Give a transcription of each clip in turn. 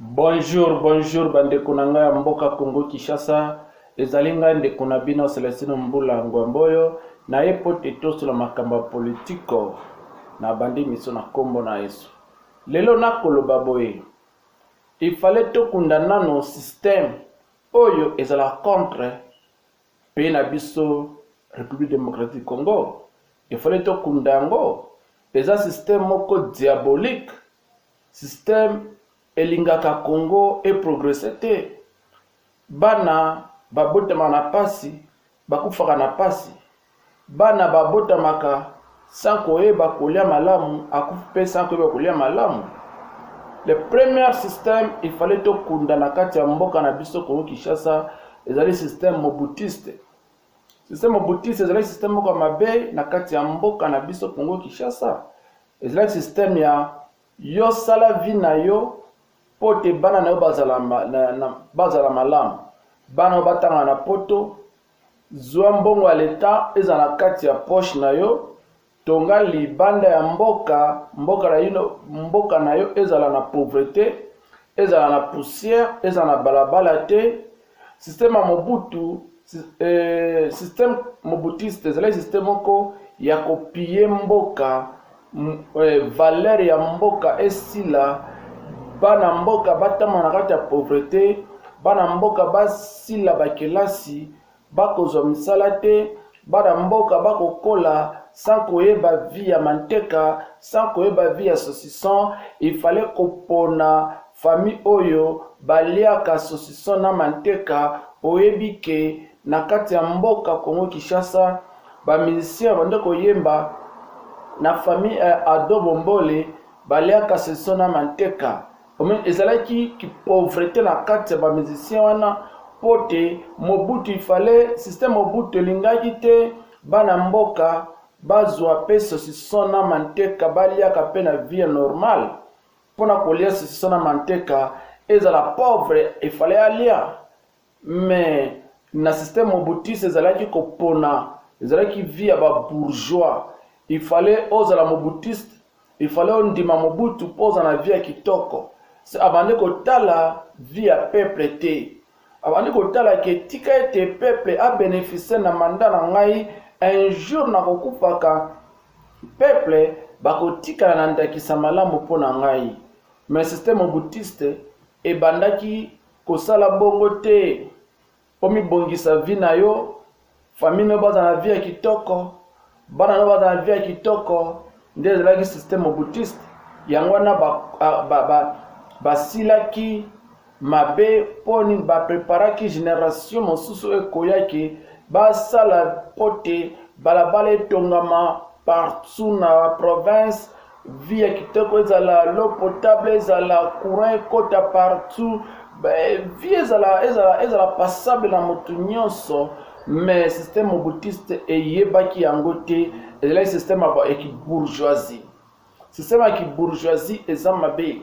Bonjour, bonjour bandeko na ngai ya mboka Congo Kinshasa. Ezali ngai ndeko na bino Celestino Mbula Ngwamboyo na ye mpo te tosula makambo ya politiko na bandi miso na nkombo na Yesu. Lelo nakoloba boye, ifale tokunda nano système oyo ezala contre pays na biso République démocratique du Congo. Ifale tokunda yango, eza système moko diabolique Système elingaka Congo e progresser te, bana babotama na pasi, bakufaka na pasi, bana babotamaka sans koyeba kolia malamu, akufi pe sans koyeba kolia malamu. Le premier système il fallait tokunda na kati ya mboka na biso Congo Kinshasa ezali système mobutiste. Système mobutiste ezali système moko mabe na kati ya mboka na biso Congo Kinshasa. Ezalaki système ya yo sala vie na yo mpo te bana na yo bazala, na, na, bazala malamu. Bana oyo batanga na poto, zwa mbongo ya leta ezala na kati ya poche na yo, tonga libanda ya mboka, mboka na, ino, mboka na yo ezala na pauvrete, ezala na poussière, ezala na balabala te, Système ya Mobutu, eh, système mobutiste ezalaki système moko ya kopiye mboka eh, valeur ya mboka esila bana mboka batama na kati ya pauvrete bana mboka basila bakelasi bakozwa misala te Bana mboka bakokola sans koyeba vie ya manteka, sans koyeba vie ya saucisson, il fallait kopona famille oyo baliaka saucisson na manteka, oyebi ke na kati ya mboka Congo Kinshasa ba musiciens bande koyemba na famille ya Ado Bombole baliaka saucisson na manteka. Omen, ezalaki ki pauvrete na kati ya ba musiciens wana mpo te Mobutu il fallait système Mobutu elingaki te bana mboka bazwa mpe sosison na manteka baliaka mpe na vie normale mpo na kolia sosison na manteka ezala pauvre efale alia Mais na système mobutiste ezalaki kopona ezalaki vie ya ba bourgeois il fallait ozala mobutiste il fallait ondima mobutu mpo ozala na vie ya kitoko se abandi kotala vie ya peuple te abandi kotala ke tika ete peuple abeneficie na manda na ngai un jour nakokufaka peuple bakotikala na ndakisa malamu mpo na ngai mais système mobutiste ebandaki kosala bongo te omibongisa vie na yo famille no bazala na vie ya kitoko bana no bazala na vie ya kitoko nde ezalaki système obutiste yango wana basilaki ba, ba, ba mabe mpo nini bapreparaki generation mosusu ekoyaki basala mpo te balabala etongama partout na province vie ya kitoko ezala l'eau potable ezala courant ekota partout vie ezala ezala ezala passable na moto nyonso mais système mobutiste eyebaki yango te ezalaki système ya kibourgeoisie système ya kibourgeoisie eza mabe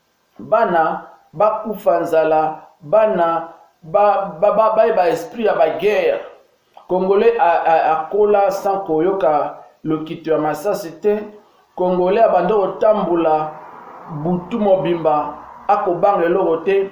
bana ba kufa nzala bana ba ba ba ba, ba esprit ya ba guerre congolais a, a, a kola sans koyoka lokito ya masasi te congolais abanda kotambola butu mobimba akobanga eloko te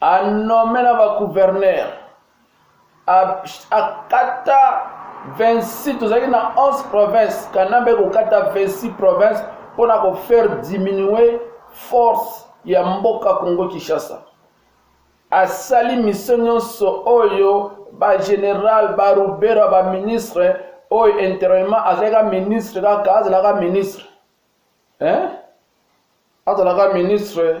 anomela ba gouverneur akata 26 tozalaki na 11 province kanambe kokata 26 province mpo na kofaire diminue force ya mboka congo kinshasa asali misio nyonso oyo bageneral barubera baministre oyo intérieurement azalaka ministre kaka azalaka ministre hein? azalaka ministre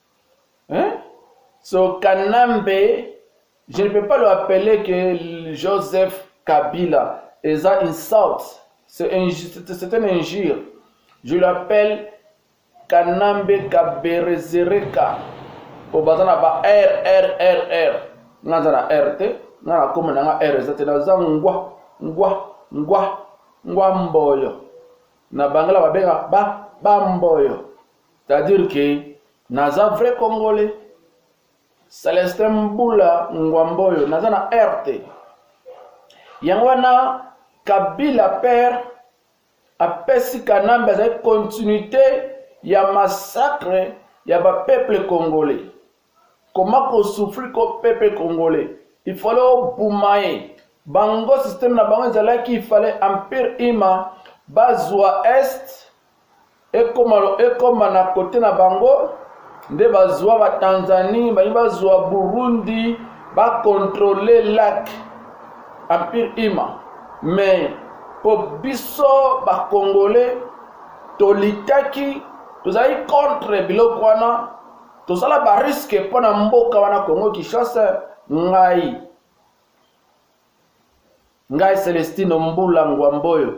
Hein? So Kanambe, je ne peux pas le appeler que Joseph Kabila. Et ça insulte. C'est un, un injure. Je l'appelle Kanambe Kaberezereka. Au bazar, ba R, R, R, R. Nga zana R te. Nga na koma na nga R eza te. Na za ngwa, ngwa, ngwa, ngwa mboyo. Na bangala babenga ba, ba mboyo. C'est à dire que naza vrai congolais Celestin Mbula Ngwamboyo naza na air te yango wana Kabila père apesi Kanambe azali continuité ya massacre ya ba peuple congolais Comment ko souffrir ko peuple congolais il fallait obuma ye bango système na bango ezalaki il fallait empire ima bazwa est ekoma ekoma na kote na bango nde bazwa ba Tanzanie bayi bazwa Burundi ba contrôler lac empire ima mais po biso ba congolais tolikaki tozali contre biloko wana tosala ba risque mpo na mboka wana congo kinshasa ngai ngai celestino mbula ngwamboyo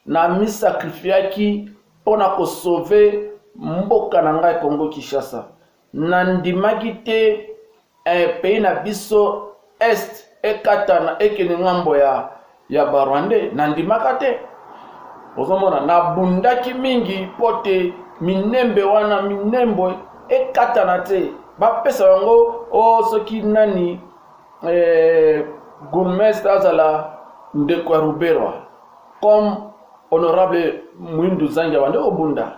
na misakrifiaki mpo na kosove mboka na ngai congo kinshasa nandimaki te eh, pays na biso Est ekatana ekende ngambo ya ya ba rwandais nandimaka te ozomona nabundaki mingi mpo te minembe wana minembo ekatana te bapesa yango o oh, soki nani eh, gourmestre azala ndeko ya ruberwa comme honorable mwindu zangi abandi kobunda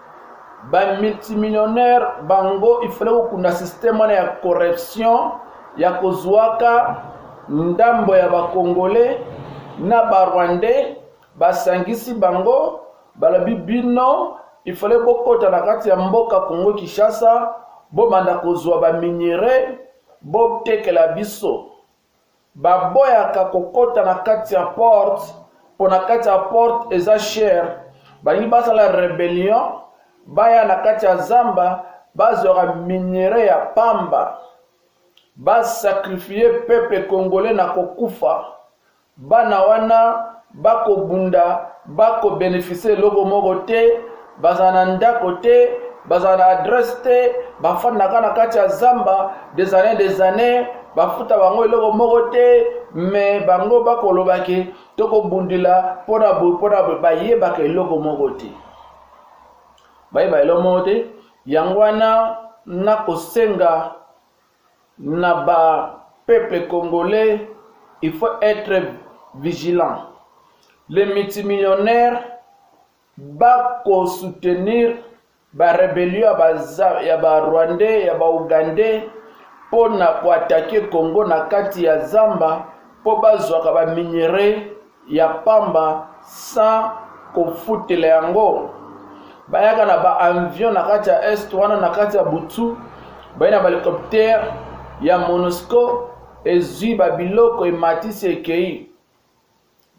ba multimillionnaire bango ifale kokunda systeme wana ya corruption ya kozwaka ndambo ya bakongole na barwandais basangisi bango balobi bino ifale bokota na kati ya mboka kongo kinshasa bobanda kozwa baminerai botekela biso Baboyaka kokota na kati ya porte mpo na kati ya porte eza chere. Balingi basala rebellion, baya na kati ya zamba bazwaka minere ya pamba, basakrifie peple kongole na kokufa. Bana wana bakobunda bakobenefise eloko moko te bazala na ndako te bazala na adresse te bafandaka na kati ya zamba des années des années bafuta bango eloko moko te me bango bakoloba ke tokobundela mpona boye mpona boye bayebaka eloko moko te bayeba eloko moko te yango wana nakosenga na ba peuple congolais il faut etre vigilant les multimillionnaires bako soutenir ba rebellion ya ba, ya ba rwandais ya ba ougandais mpo na koatake congo na kati ya zamba mpo bazwaka baminerais ya pamba sans kofutela yango bayaka na ba avion na kati ya est wana na kati ya butu baye na bahelicoptere ya monusco ezwi babiloko ematisi ekei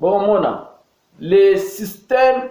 bokomona le système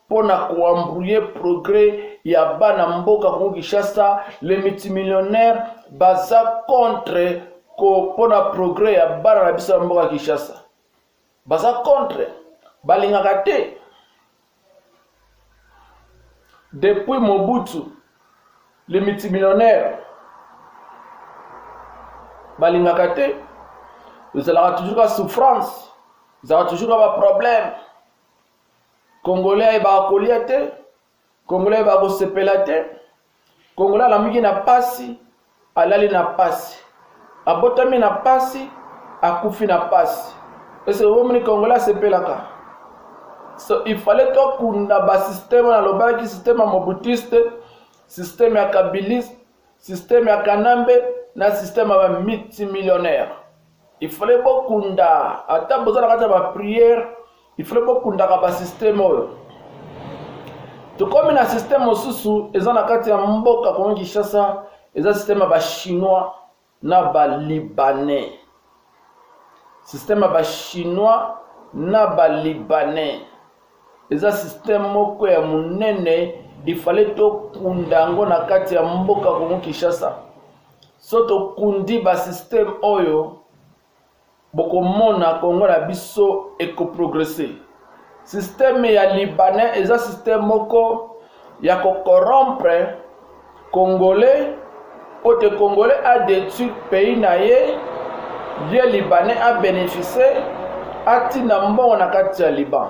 mpo na koambrouye progrès ya bana mboka kongo kinshasa le multimillionnaire baza contre mpo na progrès ya bana na biso ya mboka kinshasa baza contre balingaka te depuis mobutu le multimillionnaire balingaka te ezalaka toujours ka souffrance ezalaka toujours ka baproblème Congolais ayebaka kolia te, Congolais ayebaka kosepela te, Congolais alamuki na pasi, alali na pasi, abotami na pasi, akufi na pasi. Ese omoni Congolais asepelaka? So, il fallait tokunda basysteme, nalobaki systeme ya mobutiste, systeme ya kabiliste, Système ya Kanambe na système ya ba multimillionnaire. Il fallait bokunda ata boza na kati ya ba prière, il fallait bokundaka ba système oyo. Tokomi na système mosusu eza na kati ya mboka Kongo Kinshasa, eza système ya ba chinois na ba libanais système ya ba chinois na ba libanais eza système moko ya monene ifale tokunda yango na kati ya mboka kongo kinshasa so tokundi basysteme oyo Bokomona Congo na biso eko progresser. Système ya libanais eza système moko ya ko corrompre congolais pote congolais a detruire pays na ye ye libanais a bénéficie atinda mbongo na kati ya liban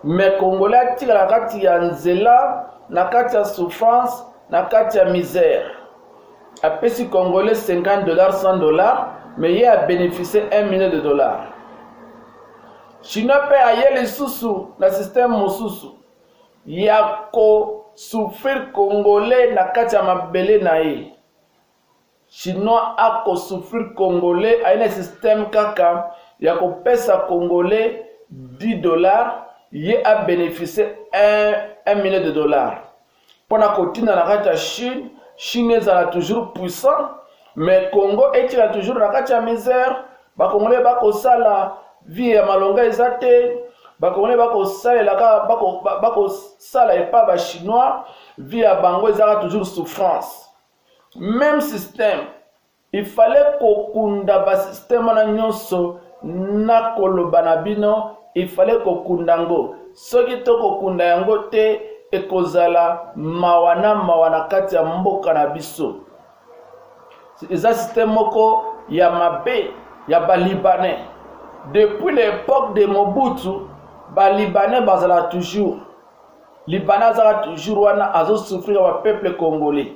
me congolais atikala na kati ya nzela na kati ya souffrance na kati ya misère apesi congolais 50 dollars 100 dollars mais ye abeneficie 1 million de dollars chinois mpe aye lisusu na systeme mosusu ya kosouffrir congolais na kati ya mabele na ye chinois akosouffrir congolais aye na systeme kaka ya kopesa congolais 10 dollars ye abeneficie 1 million de dollars mpo na kotinda na kati ya chine chine ezala toujours puissant mais congo etikala toujours na kati ya misère bakongole bakosala vie ya malonga eza te bakongole bakosalela kaka bakosala epa bachinois vie ya bango ezaka toujours souffrance même système Il fallait kokunda ba système wana nyonso na koloba na bino il fallait kokunda yango soki to kokunda yango te ekozala mawa na mawa na kati ya mboka na biso eza système moko ya mabe ya balibanais depuis l'époque de mobutu balibanais bazala toujours libanais azala toujours wana azosouffrir ya bapeuple congolais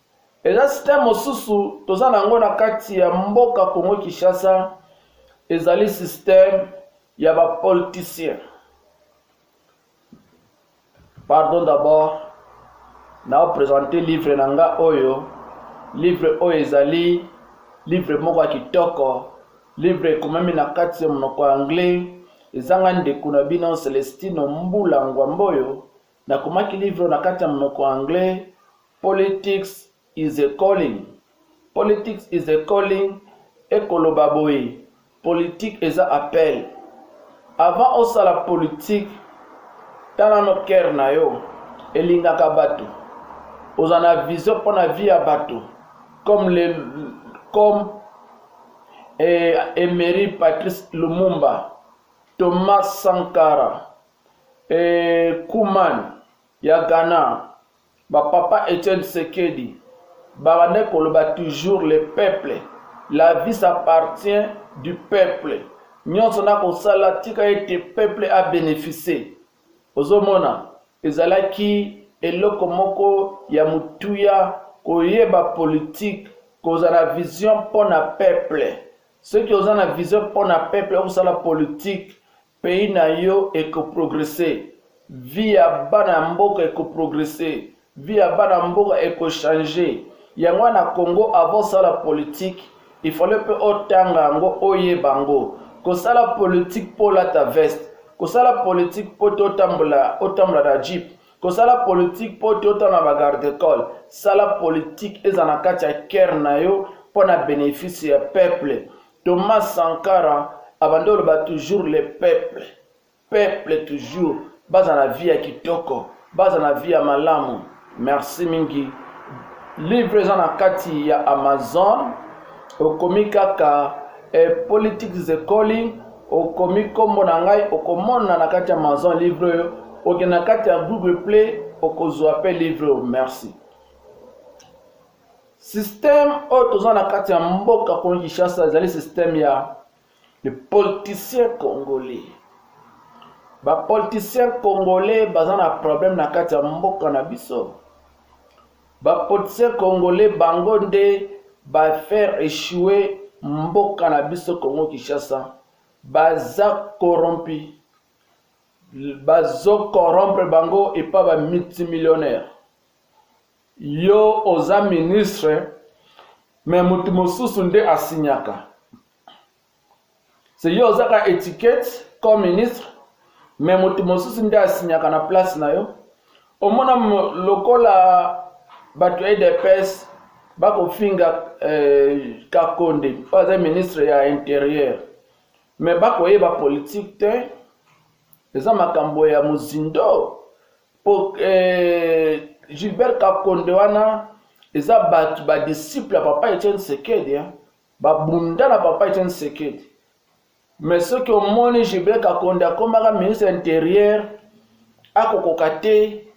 Eza système mosusu toza nango na kati ya mboka Congo Kinshasa ezali système ya ba politiciens. Pardon d'abord na présenter livre na nga oyo livre oyo ezali livre moko ya kitoko livre ekomami na kati ya monoko ya anglais ezanga ndeko na bino celestino mbula ngwamboyo Nakomaki livre oyo na kati ya monoko ya anglais, Politics is a calling. Politics is a calling ekoloba boye, politique eza appel. Avant osala politique, tala no cœur na yo elingaka bato, oza na vision mpo na vie ya bato comme le comme eh, Emery Patrice Lumumba, Thomas Sankara, Eeh Koeman ya Ghana ba papa Etienne Tshisekedi babandaki koloba toujours le peuple la vie s'appartient du peuple nyonso na kosala tika ete peuple a beneficie ozomona ezalaki eloko moko ya motuya koyeba politique kozala na vision mpo na peuple soki oza na vision mpo na peuple okosala politique Pays na yo eko progresser, vie ya bana ya mboka eko progresser, vie ya bana mboka eko changer. Yango wana na Congo avant osala politique, il fallait pe otanga yango oyeba yango. Kosala politique po olata veste, kosala politique po te otambola otambola na jeep, kosala politique po te otala na ba garde col. Sala politique ezala na kati ya cœur na yo mpo na benefice ya peuple. Thomas Sankara abandi oloba toujours le peuple peuple toujours baza na vie ya kitoko baza na vie ya malamu merci mingi livre eza na kati ya amazon okomi kaka eh, politics ekoli okomi nkombo na ngai okomona na kati ya amazon livre oyo okende na kati ya google play okozwa mpe livre oyo merci système oyo toza na kati ya mboka kongo kinshasa ezali système ya le politicien congolais bapoliticien congolais baza na problème na kati ya mboka na biso bapoliticien congolais bango nde bafaire echoue mboka na biso congo kinshasa baza corrompi bazo corrompre bango epa bamultimillionnaire Yo oza ministre mais mutu mosusu nde asignaka. Se yo ozaka etiquette comme ministre mais mutu mosusu nde asignaka na place na yo. Omona lokola bato ya udps bakofinga eh, kakonde oyo aza ministre ya interieur me bakoyeba politike te eza makambo ya mozindo po eh, gilbert kakonde wana eza bato badisciple ya papa etienne sekedi eh? babunda na papa etienne sekedi mais soki omoni gilbert kakonde akomaka ministre interieur akokoka te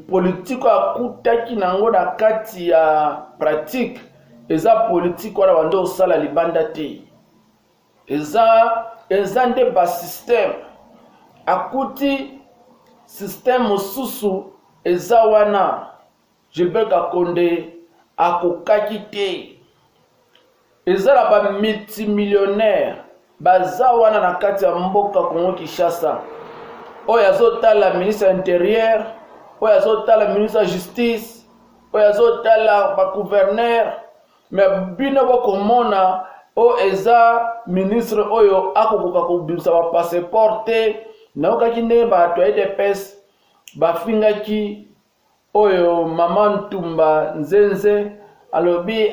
politike oyo akutaki na yango na kati ya pratike eza politike wana banda osala libanda te eza eza nde basystème akuti système mosusu eza wana gilbert kakonde akokaki te eza na bamultimillionnaire baza wana na kati ya mboka kongo kinshasa oyo azotala ministre ya interieur oyo azotala ministre ya justice oyo azotala bagouverneur mais bino bokomona o eza ministre oyo akokoka kobimisa ba passeport te nayokaki nde bato ya edps bafingaki oyo mama ntumba nzenze alobi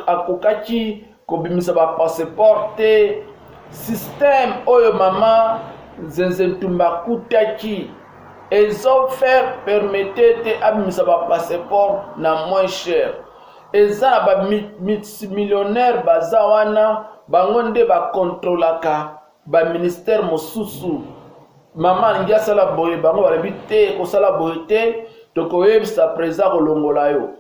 akokaki kobimisa ba passeport te système oyo mama nzenze ntumba akutaki ezo faire permete te abimisa ba passeport na moins cher Eza ba multimillionnaire baza wana bango nde ba controlaka ba ministère mosusu. Mama alingi asala boye bango balobi te kosala boye te tokoyebisa president kolongola yo.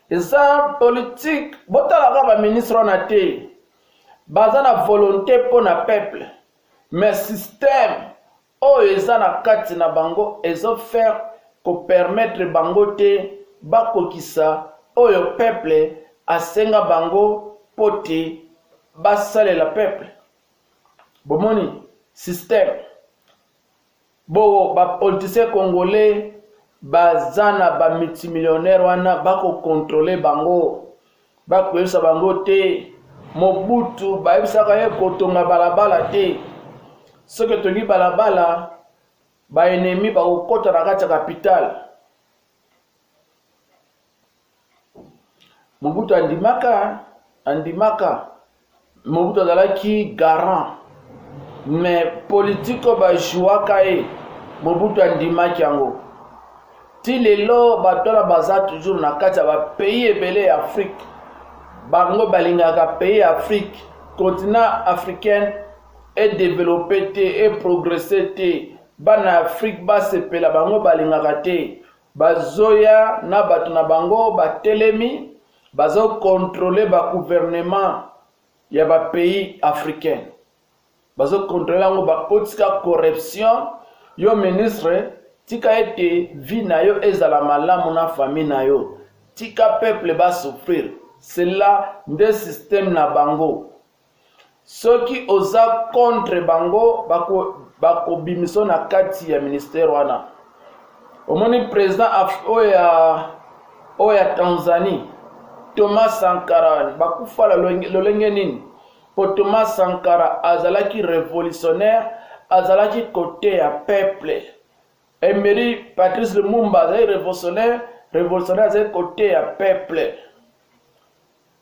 Eza politique botalaka ba ministre wana te baza na volonté mpo na peuple mais système oyo eza na kati na bango ezo faire ko permettre bango te bakokisa oyo peuple asenga bango mpo te basalela peuple bomoni système bo ba politiciens congolais baza na ba multimillionnaire wana bakokontrole bango bakoyebisa bango te mobutu bayebisaka ye kotonga balabala te soki etongi balabala baenemi bakokɔta na kati ya kapitale mobutu andimaka andimaka Mobutu azalaki garant me politike oyo bajouaka ye Mobutu andimaki yango ti lelo bato wana baza toujours na kati ya bapays ebele ya Afrique bango balingaka pays ya Afrique continent africaine edeveloppe te eprogresse te bana ya Afrique basepela bango balingaka te bazoya na bato na bango batelemi Bazo controle ba gouvernement ya ba pays africain, bazo controle yango, bakotika corruption. Yo ministre, tika ete vie na yo ezala malamu na famille na yo, tika peuple ba souffrir. Cela nde système na bango. soki oza contre bango bakobimiso bako na kati ya ministère wana omoni président oyo ya oyo ya tanzanie thomas sankara bakufa lolenge nini mpo thomas sankara azalaki révolutionnaire azalaki kote ya peuple emery patrice lumumba azalaki révolutionnaire révolutionnaire azalaki kote ya peuple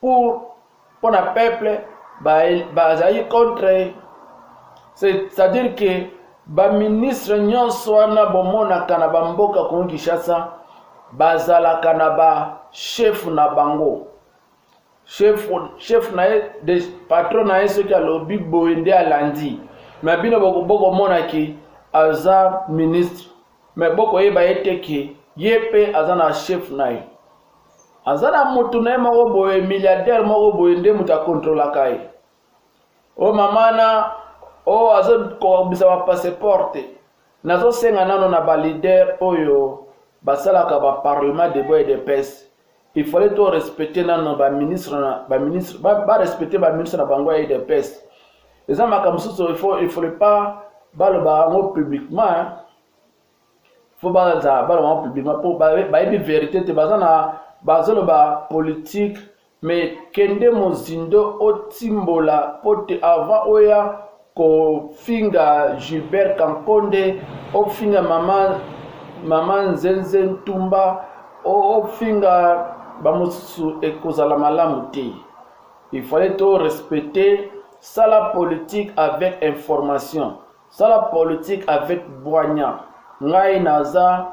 pour pour na peuple bazali ba contre c'est-à-dire que baministre nyonso wana bomonaka na bamboka kongo kinshasa bazalaka na bashefu na bango chef na ye de patron na ye soki alobi boye nde alandi me bino bokomonaki aza ministre Mais boko yeba ye te ke ye pe aza na chef na ye. Aza na mutu na ye moko boye milliardaire moko boye nde mutu akontrolaka ye. O mama na o azo kobisa ba passeport te. Nazo senga nano na ba leader oyo basalaka ba parlement de boye de pese. il fallait to respecter nano ba ministre na ba ministre ba, ba respecter ba ministre na bango ya UDPS eza makambo mosusu il faut il fallait pas baloba yango publiquement hein. faut baza baloba yango publiquement mpo bayebi verité te baza na bazoloba politique mais kende mozindo otimbola mpo te avant oya kofinga Gilbert Kankonde, ofinga mama mama Nzenze Ntumba, ofinga bamosusu, ekozala malamu te. Il fallait to respecter sala politique avec information, sala politique avec bwanya. Ngai naza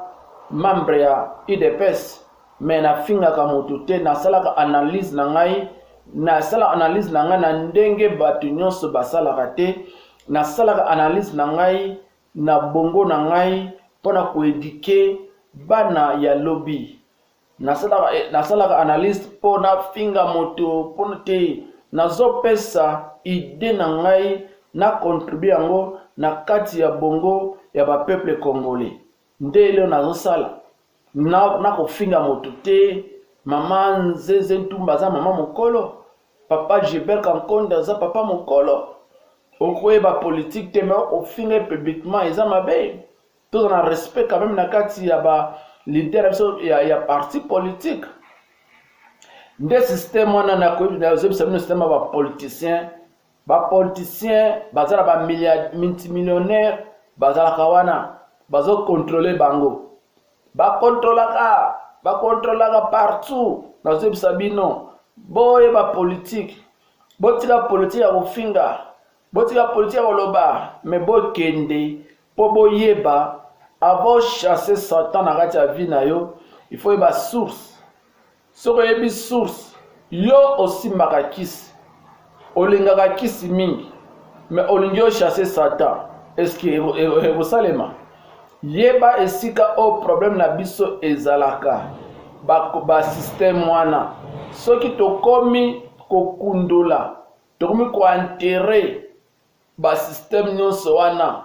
membre ya UDPS, mais nafingaka moto te nasalaka analyse na ngai nasala analyse na ngai na ndenge bato nyonso basalaka te nasalaka analyse na ngai na bongo na ngai mpo na koedike bana ya lobi nasalaka, eh, nasalaka analyse mpo nafinga moto mpo te nazopesa ide na ngai na contribue yango na kati ya bongo ya bapeuple congolais nde eleo nazosala nakofinga na moto te mama nzenze ntumba aza mama mokolo papa gilbert kankonda aza papa mokolo okoyeba politike te me ofinga ye publiquement eza mabe toza na respect quand même na kati ya ba leader ya biso ya, ya parti politique nde système wana nakoyebisa bino système ya bapoliticien ba politiciens baza na ba multimillionnaire bazalaka wana bazokontrole bango bakontrolaka bakontrolaka partout nazoyebisa bino boyeba politike botika politike ya kofinga botika politike ya koloba me bokende mpo boyeba avant chasse satan na kati ya vie na yo il faut yeba source soki oyebi source yo osimbaka kisi olingaka kisi mingi me olingi ochasse satan eske ekosalema yeba esika oyo problème na biso ezalaka basystème ba wana soki tokomi kokundola tokomi kointere basystème nyonso wana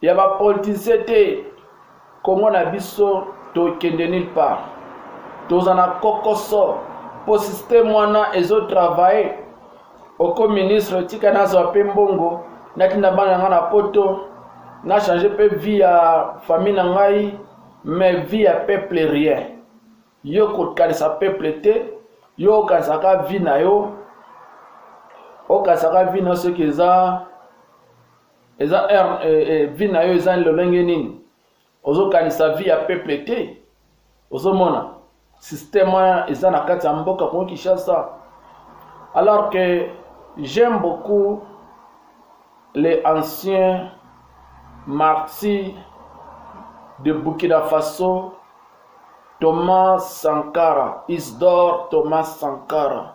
ya ba politiciens te Congo na biso tokende nulle part toza na kokoso mpo systeme wana ezo travaille oko ministre tika nazwa mpe mbongo natinda bana na ngai na poto na change mpe vie ya famille na ngai mais vie ya peuple rien yo kokanisa peuple te yo okanisaka vie na yo okanisaka vie na yo soki eza eza heure eh, eh, vie na yo eza lolenge nini ozokanisa vie ya peuple te ozomona système wana eza na kati ya mboka kongo kinshasa alors que j'aime beaucoup les anciens martyrs de burkina faso thomas sankara isdor thomas sankara